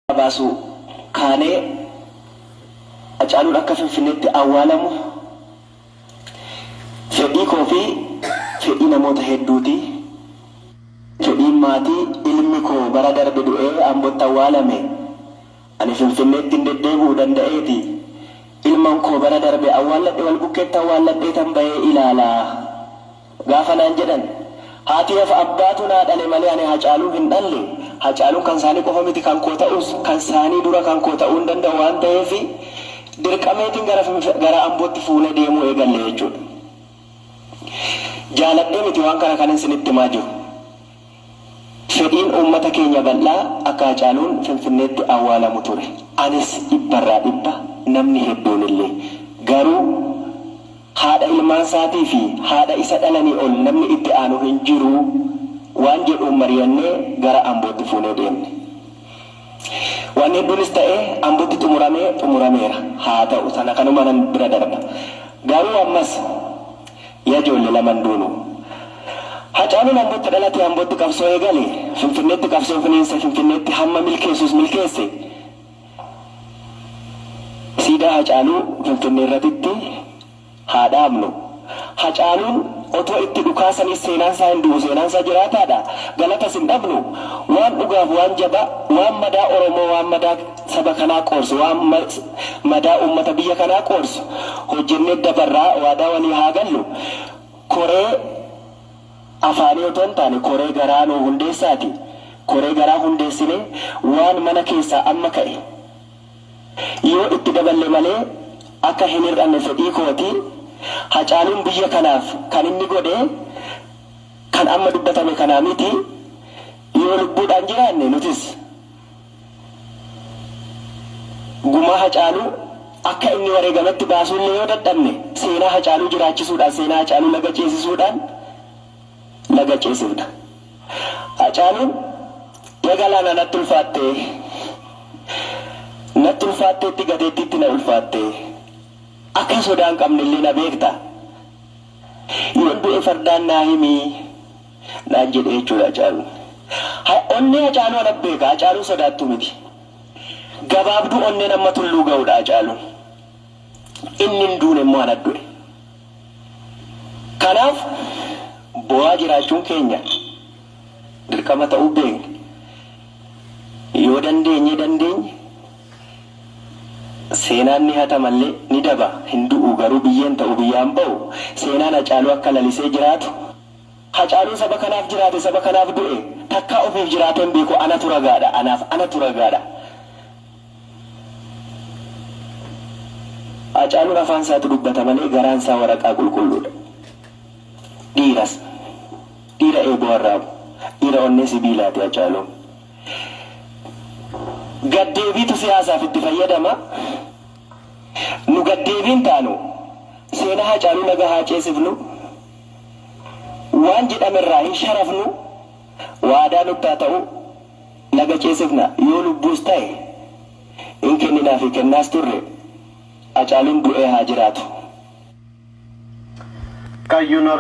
baasuu kaanee Hacaaluun akka Finfinneetti awwaalamu fedhii koo fi fedhii namoota hedduuti. Fedhiin maatii ilmi koo bara darbe du'ee Ambotti awwaalame ani Finfinneetti hin deddeebi'u danda'eeti. Ilman koo bara darbe awwaalladhe wal bukkeetti awwaalladheetan bahee ilaala. Gaafa naan jedhan Haatii'f abbaatu naa dhale malee ani Hacaaluu hin dhalle, Hacaaluun kan saanii qofa miti kan koo ta'us kan saanii dura kan koo ta'uu hin danda'u waan ta'eef dirqameetiin gara Finf gara Ambootti fuunee deemuu eegalle jechuudha. Jaaladhee miti waan kana kanin sinitti himaa jiru. Fedhiin uummata keenya bal'aa akka Hacaaluun Finfinneetti awwaalamu ture. Anis dhibbarraa dhibba, namni hedduunillee. Garuu haadha ilmaansaatii fi haadha isa dhalanii ol namni itti aanu hin jiru waan jedhuun mariyannee gara Ambootti fuunee deemne. Waan hedduunis ta'ee Ambotti xumurame xumurameera. Haa ta'u sana kanumanan bira darba. Garuu ammas Ya joolle laman duunu. Hacaaluun Ambotti dhalate Ambotti qabsoo eegale, Finfinneetti qabsoo finiinse Finfinneetti hamma milkeessus milkeesse. Siidaa Hacaaluu Finfinneerratitti. Haa dhaabnu. Hacaaluun otoo itti dhukaasaniis seenaansaa hin du'u, seenaansaa jiraataadha. Galatas hin dhabnu. Waan dhugaaf, waan jabaa, waan madaa Oromoo, waan madaa saba kanaa qoorsu, waan madaa uummata biyya kanaa qoorsu hojjennee dabarra waadaa walii haa gallu. Koree afaanii otoo hin taane koree garaa nuu hundeessaatii koree garaa hundeessinee waan mana keessaa amma ka'e, Yoo itti daballe malee akka hin hir'anne fedhii kooti. Hacaaluun biyya kanaaf kan inni godhe kan amma dubbatame kanaa miti. Yoo lubbuudhaan jiraanne nutis gumaa Hacaaluu akka inni wareegametti baasuullee yoo dadhabne seenaa Hacaaluu jiraachisuudhaan, seenaa Hacaaluu laga ceesisuudhaan, laga ceesifna. Hacaaluun ya galaana natti ulfaattee Natti ulfaatteetti gateettiitti na ulfaattee Akka sodaa hin qabnellee na beekta Yoon du'e fardaan naa himi naan jedhe jechuudha Hacaaluun. Onnee Hacaaluu ana beeka Hacaaluun sodaattuu miti. Gabaabduu onneen amma tulluu ga'udha Hacaaluun. Inni hin duune immoo ana du'e. Kanaaf boo'aa jiraachuun keenya dirqama ta'uu beekna. Yoo dandeenyee dandeenye seenaan ni hatama illee ni daba hin du'u garuu biyyeen ta'u biyyaan ba'u seenaan Hacaaluu akka lalisee jiraatu Hacaaluun saba kanaaf jiraate saba kanaaf du'e takkaa ofiif jiraatee hin beeku anatu ragaadha anaaf anatu ragaadha. Haacaaluun afaan isaatu dubbata malee garaan isaa waraqaa qulqulluudha. Dhiiras. Dhiira eeboo arraabu. Dhiira onnee sibiilaati Haacaaluun. Gad-deebiitu siyaasaaf itti fayyadama. Nu gad-deebii hin taanu. Seenaa Haacaaluu Laga haa ceesifnu. Waan jedhamerraa hin sharafnu. Waadaa nutti haa ta'u, laga ceesifna, yoo lubbuus ta'e hin kenninaa fi kennaas turre, Hacaaluun du'ee haa jiraatu! Kaayyoon.